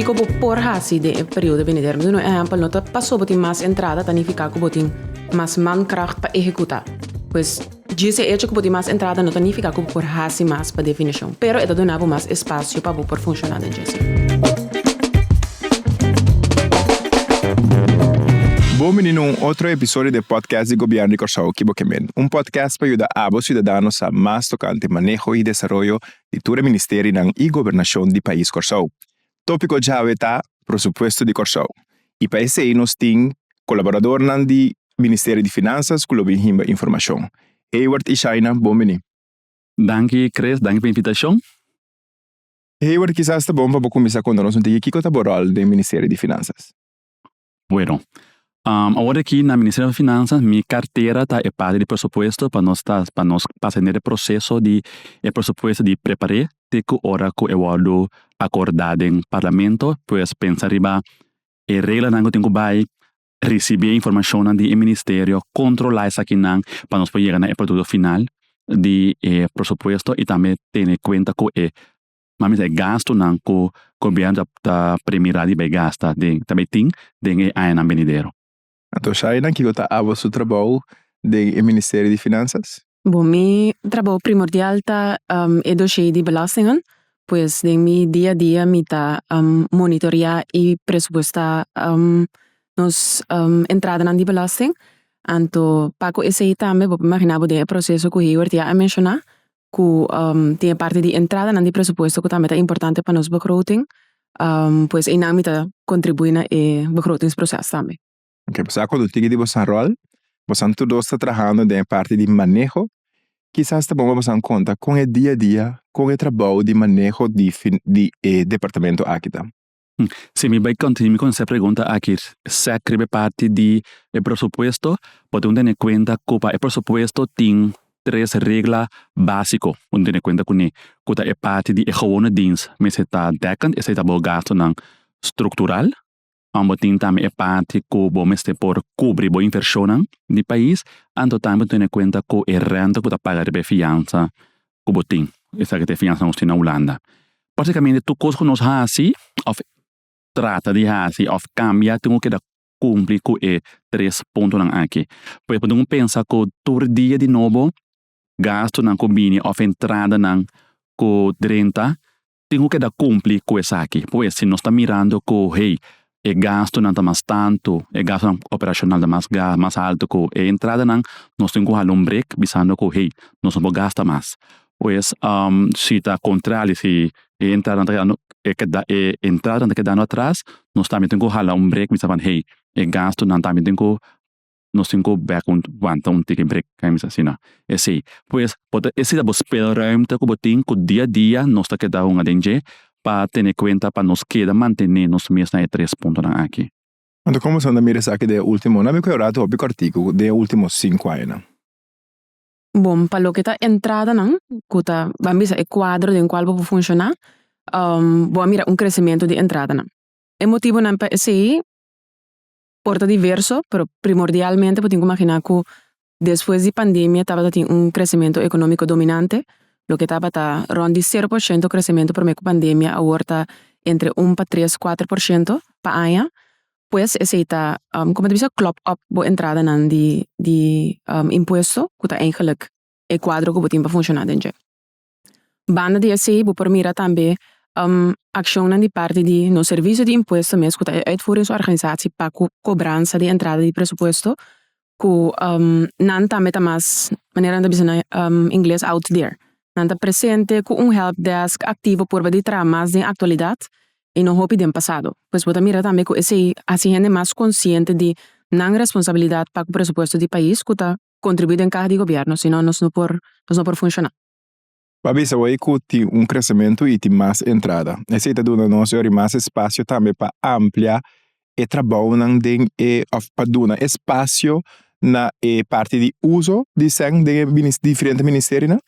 Kiko bo por hasi den e periodo benidero? Mi ta duna un ehèmpel, no ta pasobra bo tin mas entrada ta nifiká ku bo tin mas mankragt pa ehekutá. Pues, djis e echo ku bo tin mas entrada no ta nifiká ku bo por hasi mas pa definishon, pero e ta duna bo mas espasio pa bo por funshoná den djis. Bon bini na un otro episodio di e podcast di Gobièrnu di Kòrsou Kibo Kemen, un podcast pa yuda abo siudadano sa mas tokante maneho i desaroyo di tur e ministerinan i gobernashon di pais Kòrsou. Tópiko djawe ta Prosupuesto di Kòrsou i pa esei nos tin kolaboradornan di Ministerio di Finansas ku lo bin himba informashon. Hayward i Shaina, bon bini. Danki Chris, danki pa invitashon. Hayward, kisas ta bon pa bo kuminsá konta nos un tiki kiko ta bo ròl den Ministerio di Finansas. Bueno. Awor aki na Ministerio di Finansas mi kartera ta e parti di presupuesto pa nos ta pa nos pasa hender e proseso di e presupuesto di prepar'é te ku ora ku e wòrdu akordá den Parlamento, pues pensa riba e reglanan ku tin ku bai Ricibi e informacionnan di e Ministerio, controla esakinan pa nos por yega na e producto final di e presupuesto y tambe tene cuenta cu e mamisma e gastunan cu Gobierno ta premira riba e gasta den ta bay tin den e añanan benidero. Anto Shainan, kico ta abo su trabou den e Ministerio di Finanzas? Bo, mi trabou primordial ta e doshee di belastingnan. Pues den mi dia a dia mi ta monitorea i presupuesta nos entradanan di belasting. Anto pa ku esei tambe bo por imaginá bo den e proseso ku Hayward ya a menshoná ku tin e parti di entradanan di presupuesto ku tambe ta importante pa nos begroting. Pues einan mi ta kontribuí na e begrotingsproces tambe. Ok sa cu lo tigi di boso rol bosan tur dos ta trahando den e parti di maneho kisas ta bon pa bosan conta con e dia dia con e trabou di maneho di di e departamento aki ta. Si mi bai continue con esa pregunta aki sec riba e parti di e presupuesto bo tin un tene cuenta cu pa e presupuesto tin tres regla basico un tene cuenta cu ne cu ta e parti di e gewone dienst mester ta dekkend esey ta bo gastonan structural wan bo tin tambe e parti ku bo mester por kubri bo invershonnan di pais anto tambe tene en kuenta ku e rènta ku ta paga riba e fiansa ku bo tin esaki ta e fiansa nos tin na Hulanda pratikamente tur kos ku nos hasi òf trata di hasi òf kambia tin ku keda kumpli ku e tres puntonan aki pues bo tin ku pensa ku tur dia di nobo gastunan ku bini òf entradanan ku drenta Tin ku keda kumpli ku esaki. Pues si nos ta mirando ku hey e gastunan ta mas tantu, e gastunan operashonal ta mas ga mas altu ku e entradanan, nos tin ku hala un brek bisando ku hey nos no por gasta mas. Pues si ta kontrali si e entradanan ta kedando e keda e entradanan ta kedando atras nos tambe tin ku hala un brek bisa hey e gastunan tambe tin ku nos tin ku bèk un wanta un tiki brik kai mester asina esei pues bo ta ese ta bo speelruimte ku bo tin ku dia dia nos ta keda hunga den dje pa tene kuenta pa nos keda mantene nos mes na e tres puntonan aki. Anto komo asina bo ta mira esaki den e ultimo nan mi ku Eurato hopi partido den e ultimo sinku añanan? Bon pa loke ta entradanan ku ta ban bisa e kuadro den kual bo por funshoná bo a mira un kresementu di entradanan e motibonan pa esei Por ta diverso, pero primordialmente bo tin ku maginá ku despues di pandemia tabata tin un kresementu ekonómiko dominante, loke tabata rònt di sero por shento kresementu promé ku pandemia awor ta entre un pa tres, kuater por shento pa aña. Pues esei ta kòmku ta bisa klòp òp bo entradanan di di impuesto ku ta eigenlik e kuadro ku bo tin pa funshoná den dje. Banda di esei bo por mira tambe akshonnan di parti di nos Servicio di Impuesto mes ku ta e Uitvoeringsorganisatie pa ku kobransa di entrada di presupuesto ku nan tambe ta mas manera nan ta bisa na ingles out there. Nan ta presente ku un help desk aktivo purba di traha mas den aktualidat i no hopi den pasado. Pues bo ta mira tambe ku esei hasi hende mas konsiente di nan responsabilidat pa ku presupuesto di pais ku ta kontribuí den kaha di gobièrnu, sinon nos no por nos no por funshoná. Pa bisa bo ei ku tin un kresementu i tin mas entrada. Esei ta duna nos e ora i mas espasio tambe pa amplia e trabounan den e òf pa duna espasio na e parti di uso di sèn den e minis diferente ministerionan.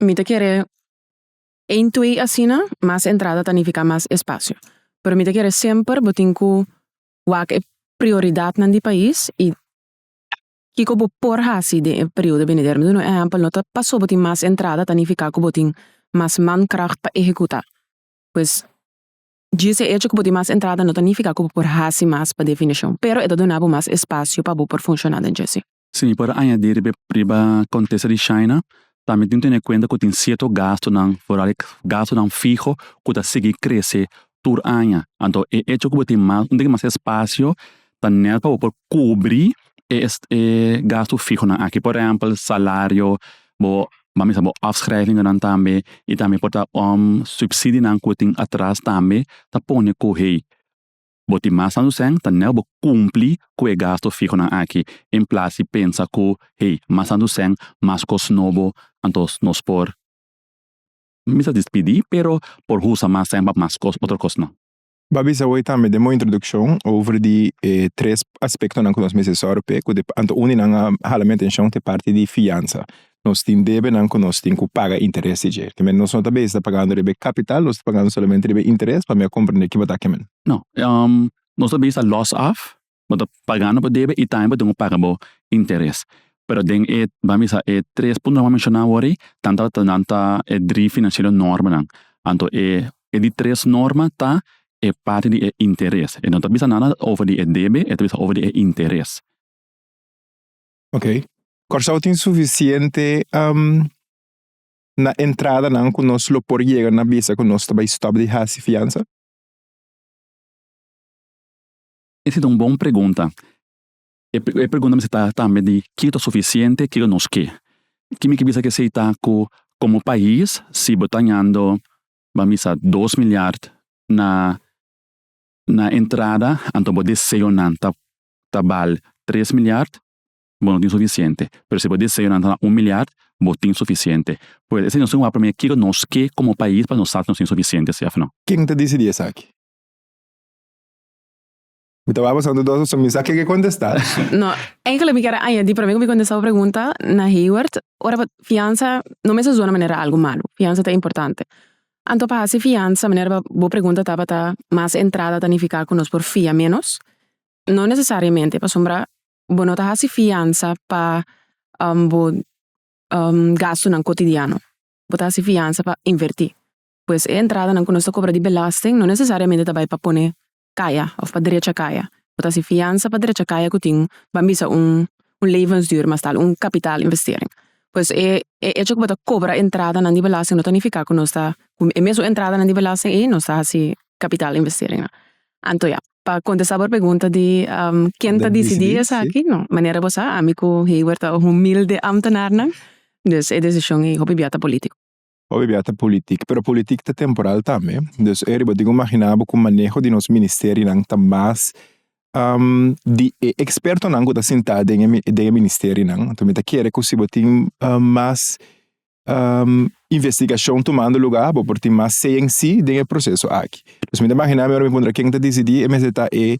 Mi ta kere e intuí asina, mas entrada ta nifiká mas espasio. Pero mi ta kere semper bo tin ku wak e prioridatnan di pais i Kiko bo por hasi den e periodo benidero? Mi duna un ehèmpel, no ta pasobra bo tin mas entrada ta nifiká ku bo tin mas mankragt pa ehekutá. Pues, djis e echo ku bo tin mas entrada no ta nifiká ku bo por hasi mas pa definishon, pero e ta duna bo mas espasio pa bo por funshoná den djis. Sí, mi por a añadí riba e kontesta di Shaina, Tambe tin tene kuenta ku tin sierto gastunan, foral e gastunan fiho ku ta sigui krese tur aña. Anto e echo ku bo tin mas un tiki mas espasio ta nel pa bo por kubri e e gastu fihonan aki. Por ehèmpel salario, bo bo a misa bo afschrijvingennan tambe i tambe por ta subsidinan ku tin atras tambe ta pone ku hei Bo tin mas ansu sèn ta nel bo kumpli ku e gasto fihonan aki, en plas di pensa ku hey, mas ansu sèn, mas kos nobo, anto nos por misa dispidí pero por husa mas sèn pa mas kos, otro kos nan. Bo a bisa hoy tambe den bo introdukshon over di e tres aspektonan ku nos mester sòru p'e, ku anto un di nan a hala mi atenshon ta e parti di fiansa. nos tin debenan cu nos tin cu paga interes di dje. Kimen nos no ta bezig ta pagando riba e capital, nos ta pagando solamente riba e interes, pa mi a comprende kiba ta kimen. No. Nos ta bezig ta loss off, bo ta pagando bo debe y tambe bo tin cu paga bo interes. Pero den e, ban bisa, e tres puntonan cu a menciona awor ei, tan tabata nan ta e drie financiero normanan. Anto e di tres norma ta e parti di e interes. E no ta bisa nada over di e debe, e ta bisa over di e interes. Ok. Kòrsou tin sufisiente na entradanan ku nos lo por yega na bisa ku nos ta bai stòp di hasi fiansa? Ese ta un bon pregunta. E pregunta mester ta tambe di kiko ta sufisiente, kiko nos ke. Ke mi ke bisa esei ta ku komo pais si bo ta hañando ban bisa dos milyart na entrada anto bo deseonan ta ta bal tres milyard, bo no tin sufisiente. Pero si bo deseonan ta na un milyard, bo tin sufisiente. Pues, esei nos tin ku wak promé kiko nos ke komo pais pa nos sa ku nos tin sufisiente, si òf nò. Ken ta disidí esaki? Mi ta wak pasando dos oson, mi sa ke ke kontestá. No, enkele mi kere añadí promé ku mi kontestá bo pregunta na Hayward, ora bo fiansa no mester zona manera algu malu. Fiansa ta importante. Anto pa hasi fiansa, manera pa bo pregunta tabata mas entrada ta nifiká ku nos por fia ménos? No nesesariamente, pasobra bo no ta hasi fiansa pa bo gastunan kotidiano. Bo ta hasi fiansa pa invertí. Pues e entradanan ku nos ta kobra di belasting no nesesariamente ta bai pa pone kaya of pa drecha kaya. Bo ta hasi fiansa pa drecha kaya ku tin ban bisa un un levensduur mas tal un kapitalinvestering. Pues e e echo ku bo ta kobra entradanan di belasting no ta nifiká ku nos ta ku e mesun entradanan di belasting ei nos ta hasi kapitalinvesteringnan. Anto ya pa kontestá bo pregunta di ken ta disidí esaki no manera bo sa ami ku Hayward ta humilde ámtenarnan, dus e desishon ei hopi bia ta polítiko. Oe bia ta politik pero politik ta temporal tambe dus e riba di un magina bo ku maneho di nos ministerionan ta mas di e ekspertonan ku ta sinta den e ministerionan mi ta kere ku si bo tin mas investigashon tumando lugá bo por tin mas CNC den e proseso aki dus mi ta magina mi ora mi puntra ken ta disidi e mester ta e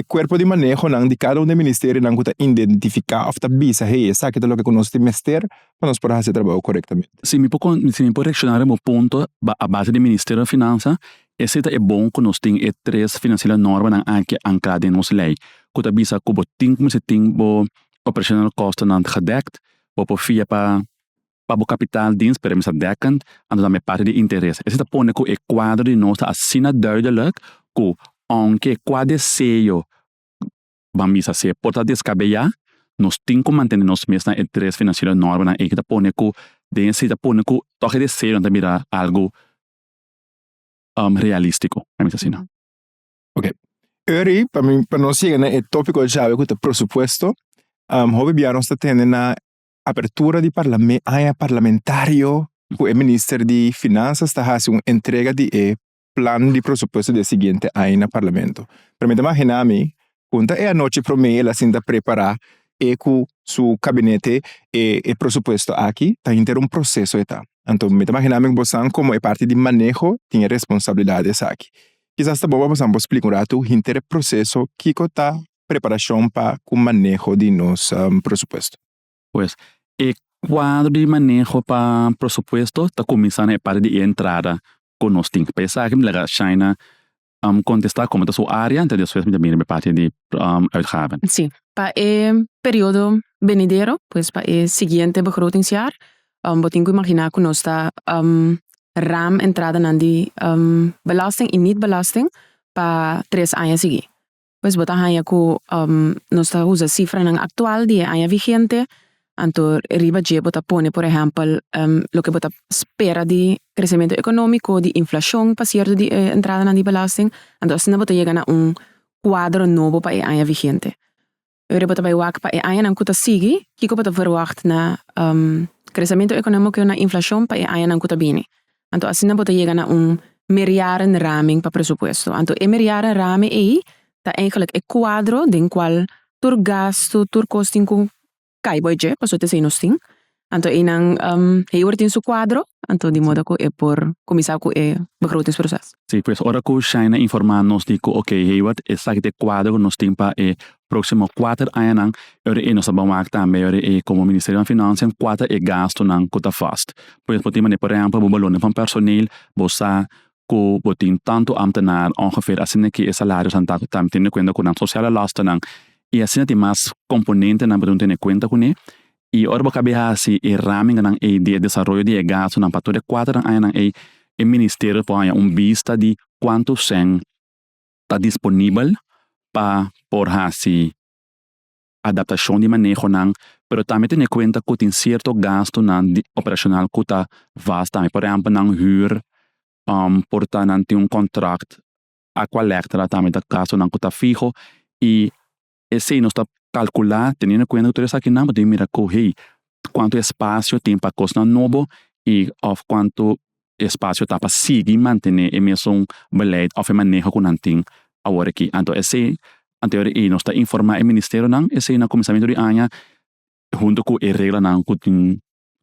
kuerpo di manehonan di kada un di e ministerionan ku ta identifika òf ta bisa hey esaki ta loke ku nos tin mester pa nos por hasi e trabou korektamente. Si mi por con si mi por reacciona riba bo punto a base di Ministerio di Finansa ese ta e bon cu nos tin e tres financiero normanan aki ancla den nos ley cu ta bisa cu bo tin cu mester tin bo operational kostennan gedekt bo por fia pa pa bo kapitaldiens pero mi sa dekkend anto tambe parte di interes ese ta pone cu e cuadro di nos ta asina duidelijk cu aunke cua deseo Ban bisa se por ta descabellá, nos tin cu mantene nos mes na e tres financiero normanan ey cu ta pone cu den esey ta pone cu toque de cero nan ta bira algo realístico, a misa asina. Ok, Eury, pa mi, pa nos yega na e topico djabe cu ta presupuesto, hopi bia nos ta tende na apertura di parlame, aña parlamentario cu e Minister di Finanzas ta haci un entrega di e plan di presupuesto di e siguiente aña na Parlamento. Pero mi ta magina mi con ta e anochi prome el a sinta prepara e cu su cabinete e e presupuesto aki ta henter un proceso e ta. Anto mi ta magina mi cu bosan como e parti di maneho tin e responsabilidad esaki. Kisas ta bon pa bosan por splica un ratu henter e proceso kico ta preparacion pa cu maneho di nos presupuesto. Pues e cuadro di maneho pa presupuesto ta cuminsa na e parti di e entrada ku nos tin. Pa esaki mi laga Shaina kontestá komo ta su área, enton despues mi ta bini parti di uitgaven. Sí, pa e periodo benidero, pues pa e siguiente begrotingsjaar, bo tin ku imaginá ku nos ta ram entradanan di belasting i niet-belasting pa tres aña siguí. Pues bo ta haña ku nos ta usa sifranan aktual di e aña vigente, anto riba dje bo ta pone por ehèmpel loke bo ta spera di kresementu ekonómiko, di inflashon pa sierto di e entradanan di belasting, anto asina bo ta yega na un kuadro nobo pa e aña vigente. Ora bo ta bai wak pa e añanan ku ta sigui, kiko bo ta verwagt na kresementu ekonómiko na inflashon pa e añanan ku ta bini? Anto asina bo ta yega na un merjarenraming pa presupuesto. Anto e merjarenraming ei ta eigenlijk e kuadro den kual tur gastu, tur kos tin ku kai bo e dje, pasobra esei nos tin. Anto einan e yor tin su kuadro, anto di moda ku e por kuminsá ku e begrotingsproces. Si pues ora ku Shaina informá nos di ku oke, heiwat esaki ta e kuadro ku nos tin pa e proximo kuater añanan ora e nos ta bawak tambe ora e komo Ministerio di Finansianan kuata e gastunan ku ta fast. Pues bo tin manera por ehempel bo balunde van personeel bo sa ku bo tin tantu ambtenaar ongeveer asina ke e salarionan ta teniendo kuenta ku nan sosiale lastennan i asina tin mas komponentenan bo dun tene kuenta kuné i ora bo kabia hasi e raminganan ei di e desaroyo di e gastunan pa tur e kuater añanan ei e Ministerio por haña un bista di kuantu cen ta disponibel pa por hasi adaptashon di manehonan pero tambe tene kuenta ku tin sierto gastunan di operashonal ku ta vast tambe. Por ehèmpel nan hür por ta nan tin un kontrakt, Aqualectra tambe ta gastunan ku ta fiho i Esei nos ta kalkulá teniendo kuenta ku tur esakinan bo tin mira ku hey kuantu espasio tin pa kosnan nobo i òf kuantu espasio ta pa sigui mantené e mesun beleid òf e maneho ku nan tin awor aki. Anto esei anterior i nos ta informá e ministerionan esei na kuminsamentu di aña huntu ku e reglanan ku tin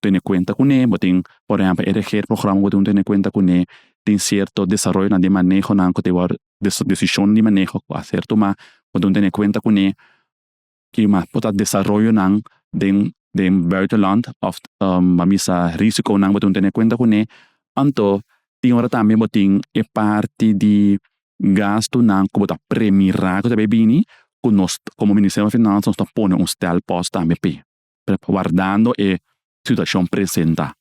tene kuenta kuné, bo tin por ehèmpel e reger programa bo tin tene kuenta kuné tin sierto desaroyonan di manehonan ku ta wòrdu desishon di maneho ku a ser tumá bo tin tene kuenta kuné i mas por ta desaroyonan den den buitenland òf a bisa risikonan bo tin tene kuenta kuné anto tin ora tambe bo tin e parti di gastunan ku bo ta premirá ku ta bini ku nos komo ministerio di finansa nos ta pone un stèlpòs tambe p'e. wardando e situashon presenta.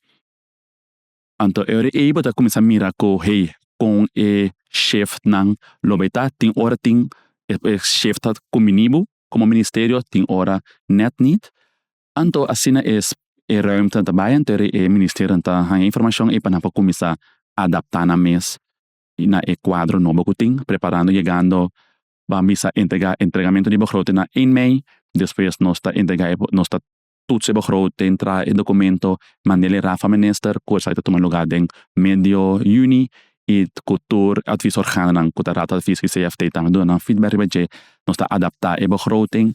Anto e ora ei bo ta kuminsá mira ku hey kon e shefnan lo bai ta. Tin ora tin e e shef ta kuminí bo komo ministerio tin ora nèt nit. Anto asina es e rùimtenan ta bai anto e ministerionan ta haña informashon ei pa nan por kuminsá adaptá nan mes na e kuadro nobo ku tin preparando yegando Ban bisa entrega entregamentu di begroting na ein mei, despues nos ta entrega e nos ta toets e begroting, traha e documento, mand'el e raaf van minister cu esaki ta tuma lugar den medio juni y cu tur advies organonan cu ta Raad van Advies y CFT tambe duna nan feedback riba dje nos ta adapta e begroting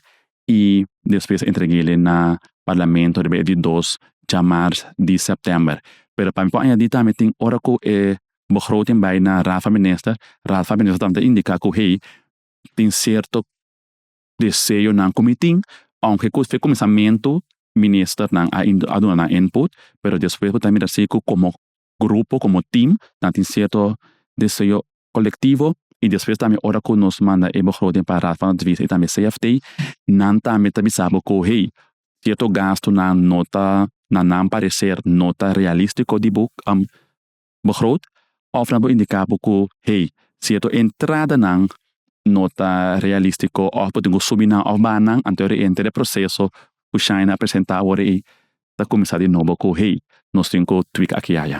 y despues entreg'el'e na parlamento riba e di dos dja mars di september. Pero pa mi por añadi tambe tin ora cu e Bo grou tin bai na Rafa Minister, Ralfa Minister tambe ta indica cu hey tin cierto deseonan cu mi tin, aunke cu fe cuminsamentu Ministernan a in a duna nan input, pero despues bo ta mira si cu como grupo, como team nan tin cierto deseo colectivo y despues tambe ora cu nos manda e begroting pa Raad van Advies y tambe CFT nan tambe ta bisa bo cu hey cierto gastonan no ta na nan parecer no ta realistico di bo bo groot of nan bo indica bo cu hey cierto entrada nan no ta realistico of bo tin cu subi nan of baha nan anto e enter e proceso cu Shine a presenta awor ei ta cuminsa di nobo cu hey nos tin cu tweak aki y aya.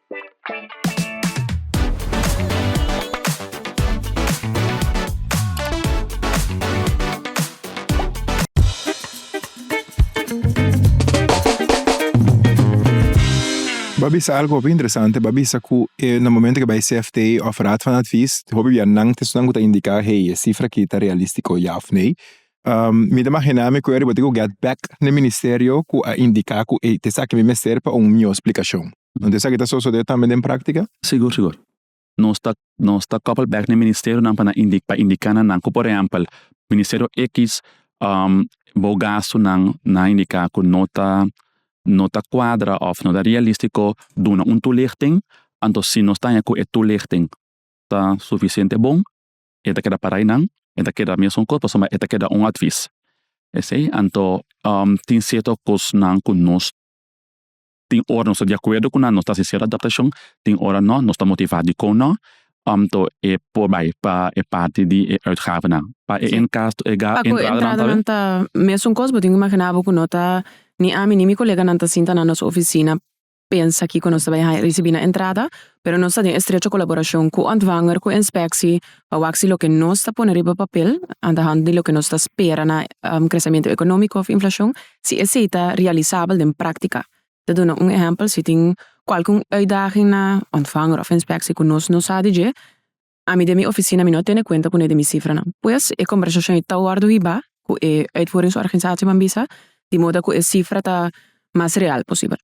Bo a bisa algo hopi interesante, bo a bisa ku e na momento ke bai CFTA òf Raad van Advies hopi bianan ta estunan ku ta indiká hey e sifra aki ta realístiko ya òf nee. Mi ta imaginá mi ku e ariba tin ku gèt bèk na e ministerio ku a indiká ku hey ta esaki mi mester pa un mihó splikashon. Nan ta esaki ta sosode tambe den práktika? Sigur, sigur. Nos ta nos ta kòpel bèk na e ministerionan pa nan indi pa indiká na nan ku por ehèmpel ministerio ekis bo gastunan nan indiká ku no ta no ta kuadra òf no ta realístiko duna un tulichting anto si nos ta haña ku e tulichting ta sufisiente bon e ta keda para einan e ta keda mesun kos pasobra e ta keda un atvis esei anto tin sierto kosnan ku nos Tin ora nos ta di akuerdo ku nan, nos ta hasi ser adaptashon, tin ora nò, nos ta motivá dikon nò omto e por bai pa e parti di e uitgavenan. Pa e enkasto e ga entradanan ta bai. Ta mesun kos, bo tin ku imaginá bo ku no ta, ni ami ni mi koleganan ta sinta na nos ofisina pensa kiko nos ta bai haña, risibí na entrada pero nos ta den estrecho kolaborashon ku Ontvanger ku Inspeksie pa wak si loke nos ta pone riba papel antahando di loke nos ta spera na kresementu ekonómiko òf inflashon, si esei ta realisabel den práktika. Ta duna un ehèmpel, si tin kualke un uitdaging na Ontvanger òf Inspeksie ku nos no sa di dje, ami den mi ofisina mi no a tene kuenta pone den mi sifranan. Pues e kòmbersashon i ta wòrdu hibá ku e uitvoeringsorganisatienan bisa di moda ku e sifra ta mas real posibel.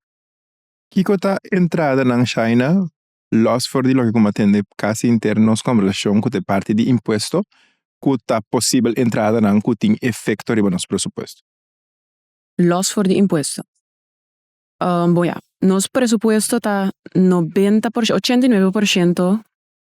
Kiko ta entradanan China, los for di loke ku mi a tende casi henter nos conversacion ku ta e parti di impuesto ku ta posibel entradanan ku tin efecto riba nos presupuesto? Los for di impuesto. Bon ya, nos presupuesto ta nobenta por ciento, ochenta y nuebe por ciento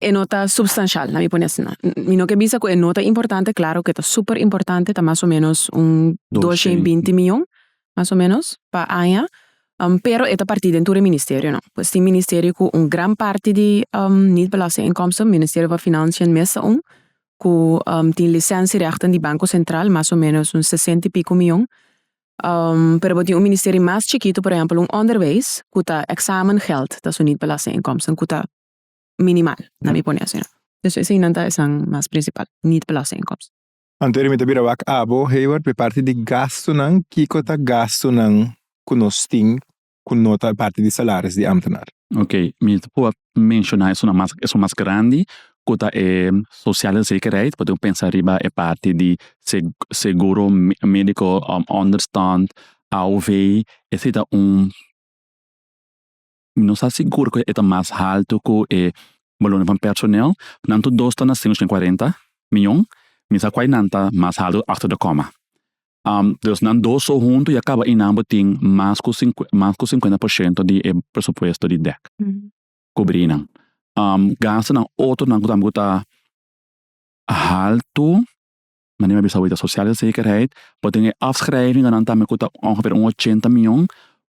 E no ta substancial, na mi pone asina. Mi no ke bisa ku e no ta importante, klaro ke ta super importante, ta mas o menos un dosha i binti miyon, mas o menos, pa aña, pero e ta parti den tur e ministerionan. Pues tin ministerio ku un gran parti di niet belastinginkomsten, Ministerio van Financiën mes ta un, ku tin lisensierechten di Banko Sentral, mas o menos un sesenta i piko miyon, pero bo tin un ministerio mas chikitu, por ehèmpel un Onderwijs, ku ta examengeld, ta su niet belastinginkomsten, ku ta minimal na mi pone asina. Despues esei nan ta esan mas principal, niet belaste inkomsten. Antonio, Mi ta bira wak abo, Heyward, p'e parti di gastunan, kiko ta gastunan ku nos tin ku no ta parti di salaris di ambtenaar? Ok, mi ta proba menshona esun mas, esun mas grandi ku ta e sosiale zekerheid, por ejemplo pensa riba e parti di seguro medico onderstand, AOV, esei ta un. Mi no sa sigur ku e ta mas haltu ku e balonan van personel. Nan tur dos ta na sin ochenta kuarenta mion. Mi sa kuai nan ta mas haltu after the comma. Dus nan dos so huntu ya kaba i nan bo tin mas ku mas ku sinkuenta por shento di e presupuesto di dek kubrí nan. Gastunan otronan ku tambe ku ta haltu. Manera mi a bisa awor, sosiale zekerheid por den e afschrijvingennan tambe ku ta ongeveer un ochenta mion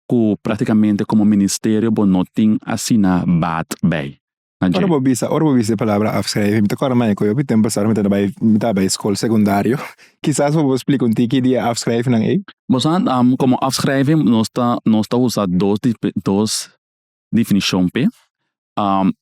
ku praktikamente komo ministerio bo no tin asina baat bij. Ora bo bisa ora bo bisa e palabra afschrijving mi ta kòrda na eco. Hopi tempo sa ora mi ta bai mi ta bai skol sekundario. Kisas por bo splika un tiki di e afschrijvingennan ei? Bo sa komo afschrijving nos ta nos ta usa dos dos Definishon p'e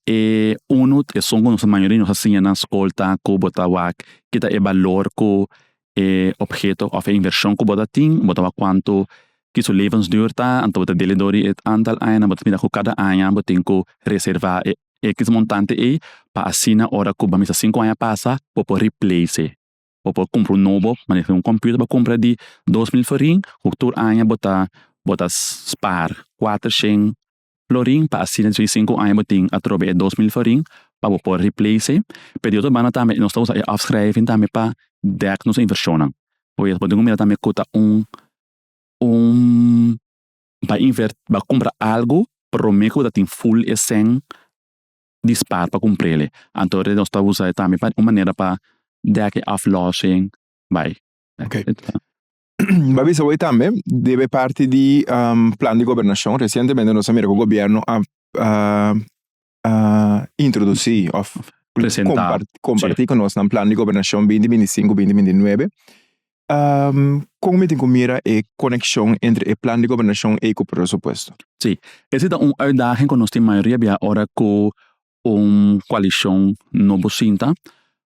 e unu esun ku nos mayoria nos a siña na skol ta ku bo ta wak keda e balor ku e obheto òf e invershon ku bo ta tin bo ta wak kuantu ki su lebensdur ta anto bo ta del'e dor di e antal aña nan bo ta mira ku kada aña bo ten ku reserva e èkis montante ey pa asina ora ku bo ta misa sinku aña pasa bo por riplac'e. bo por kumpra un nobo manera ku un computer bo kumpra di dos mil florin ku tur aña bo ta bo ta spar kuater shen florin pa asina dentro di sinku aña bo tin atrobe e dos mil florin pa bo por replac'e pero di otro banda tambe nos ta usa e afschrijving tambe pa dek nos invershonnan oke bo dico mira tambe ku ta un un bay inver bay kumpra algu prome ku bo ta tin full e shen dispar pa cumprele. Anto re nos ta usae tambe pa un manera pa dek e aflossing bay. Oké. Ba bisa bo e tambe debe parti di plan di gobernacion. Recientemente nos a mira cu gobierno a introduci of comparti cu nos nan plan di gobernacion binti binti cinco binti binti nuebe Kon mi tin ku mira e konekshon entre e plan di gobernashon ei ku presupuesto? Sí, ese ta un uitdaging ku nos tin mayoria bia ora ku un koalishon nobo sinta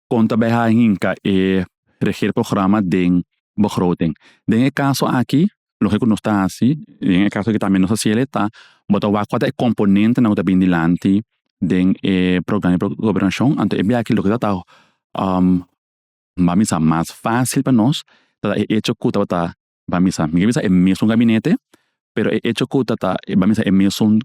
kon ta bai a hinka e regeerprograma den begroting. Den e kaso aki loke ku nos ta hasi den e kaso ku tambe nos ta hasiel ta bo ta wak kual ta e komponentenan ku ta bini dilanti den e programa di gobernashon anto e biaha aki loke ta ta Bamisa mas fácil pa nos ta e echo cu tabata bamisa, mi ke bisa e mesun gabinete, pero e echo cu tata bamisa e mesun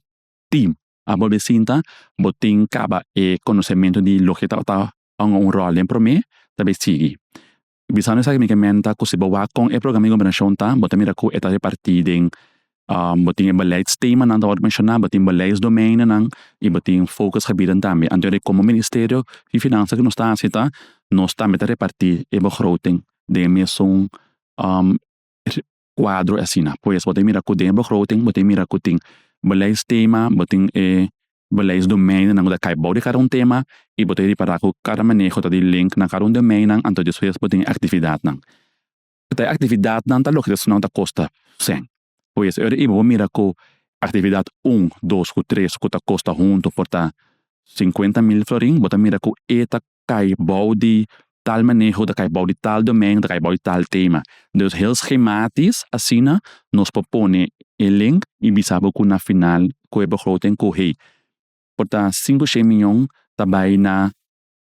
team. A bolbe sinta, bo tin caba e conocemento di loke tabata hunga un rol den prome, ta bay sigui. Bisando esaki mi ke menta cu si bo wak con e programa di gobernacion ta, bo ta mira cu e ta reparti den Bo tin e beleidstemanan ta wòrdu menshoná, bo tin beleidsdomeinonan i bo tin fokusgebieden tambe. Anto e komo Ministerio di Finansa ku nos ta hasi ta nos tambe ta repartí e begroting den e mesun kuadro asina. Pues bo ta mira ku den e begroting bo ta mira ku tin beleidsstema, bo tin e beleidsdomeinonan ku ta kai bou di kada un tema i bo ta ripará ku kada maneho ta di link na kada un domeinonan anto despues bo tin e aktividatnan. Ta e actividadnan ta loke ta esnan ta costa cen. Cu es ora y bo mira cu actividad un, dos cu tres cu ta costa hunto por ta cincuenta mil florin bo ta mira cu e ta cay bao di tal maneho, ta cay bao di tal domen, ta cay bao di tal tema. Dus heel schematisch asina nos por pone e link y bisa bo cu na final cu e begroting cu hey por ta cinco, shei miyon ta bay na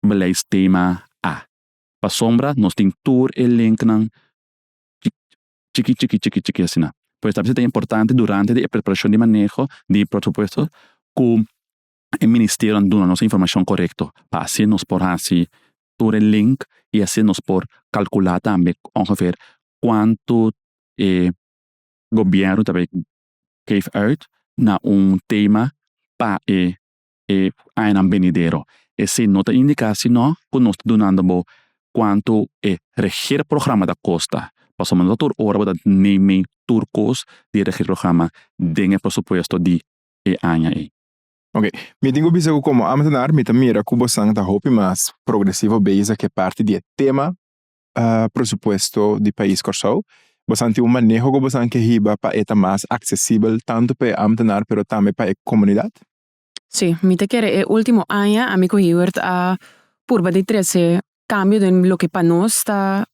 beleidstema A. Pasobra nos tin tur e linknan chiki chiki chiki chiki asina. Por esaki ta importante durante di e preparashon di maneho di e presupuesto ku e ministerionan duna nos e informashon korekto pa asi nos por hasi tur e link i asi nos por kalkula tambe ongever kuantu e gobièrnu ta bay geef uit na un tema pa e e añanan benidero. Esei no ta indiká si nò ku nos ta dunando bo kuantu e regeerprograma ta kosta, pasobra no ta tur ora bo ta neem mee tur kos di e regeerprograma den e presupuesto di e aña ei. Oke, mi tin ku bisa ku komo ámtenaar mi ta mira ku bosnan ta hopi mas progresivo beisa ku e parti di e tema presupuesto di pais Kòrsou. Bosnan tin un maneho ku bosnan ke hiba pa e ta mas aksesibel tantu pa e ámtenaar pero tambe pa e komunidat. Si, mi ta kere. E último aña ami ku Hewert a purba di trese kambio den loke pa nos ta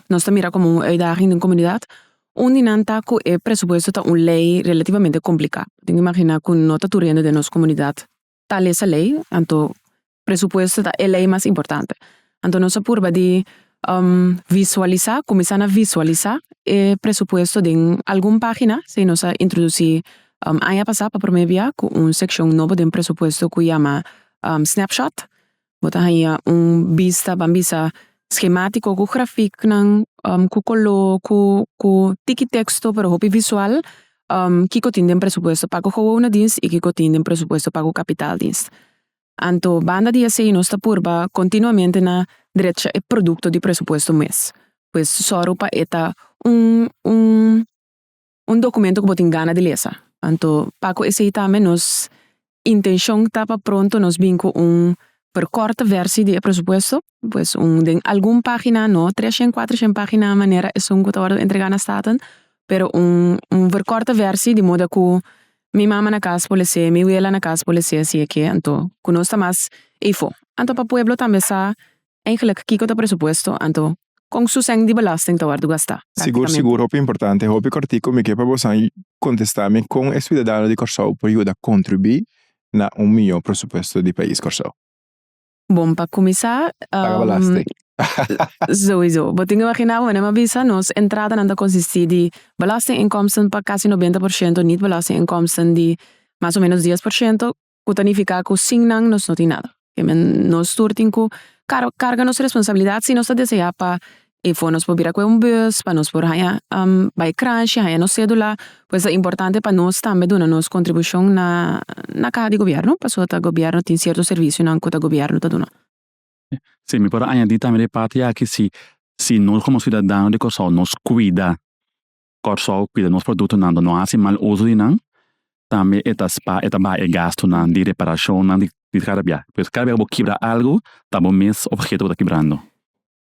nos ta mira komo un uitdaging den komunidat. Un di nan ta ku e presupuesto ta un lei relativamente kompliká. Tin imaginá ku no ta tur hende den nos komunidat ta lesa lei, anto Presupuesto ta e ley mas importante. Anto nos a purba di visualisa, cuminsa na visualisa e presupuesto den algun pagina. Esei nos a introduci aña pasa pa prome bia cu un seccion nobo den presupuesto cu yama Snapshot. Bo ta haña un bista, ban bisa schematico cu graficnan, cu color, cu cu tiki texto pero hopi visual kiko tin den presupuesto, pago gowona dienst y kiko tin den presupuesto pago capital dienst. Anto banda di esei nos ta purba continuamente na drecha e producto di presupuesto mes. Pues sòru pa e ta un un un documento cu bo tin gana di lesa. Anto pa cu esei tambe nos intencion ta pa pronto nos bin cu un percorte versi di e presupuesto. Pues un den algun página no treshen kuatershen página a manera esun ku ta wòrdu entregá na Staten pero un un verkòrte vèrsi di moda ku mi mama na kas por leesé mi wela na kas por leesé si e ke anto ku nos ta mas eifo. Anto pa pueblo tambe sa eigenlik kiko ta presupuesto anto kon su sèn di belasting ta wòrdu gastá. Sigur sigur hopi importante hopi kòrtiku mi ke pa bosa kontestá mi kon e siudadano di Kòrsou por yuda kontribui na un mihó presupuesto di pais Kòrsou. Bon, pa kuminsá, souizo, bo tin imaginá bo, mi a bisa nos entradanan ta konsistí di belastinginkomsten pa kasi nobenta por shento, nit belastinginkomsten di mas o menos dies por shento, ku ta nifiká ku sin nan nos no tin nada. Nos tur tin ku karga nos responsabilidat si nos ta deseá pa e for nos por bira kue un bus pa nos por haña bai kranshi haña nos sedula pues ta importante pa nos tambe duna nos kontribushon na na kaha di gobièrnu pasobra ta gobièrnu tin sierto servisionan ku ta gobièrnu ta duna. Si mi por a añadi tambe den e parti aki si si nos komo siudadano di Kòrsou nos kuida Kòrsou kuida nos produktonan dor no hasi mal uso di nan tambe e ta spa e ta baha e gastunan di reparashonnan di di kada bia pues kada bia ku bo kibra algu ta bo mes obheto ku ta kibrando.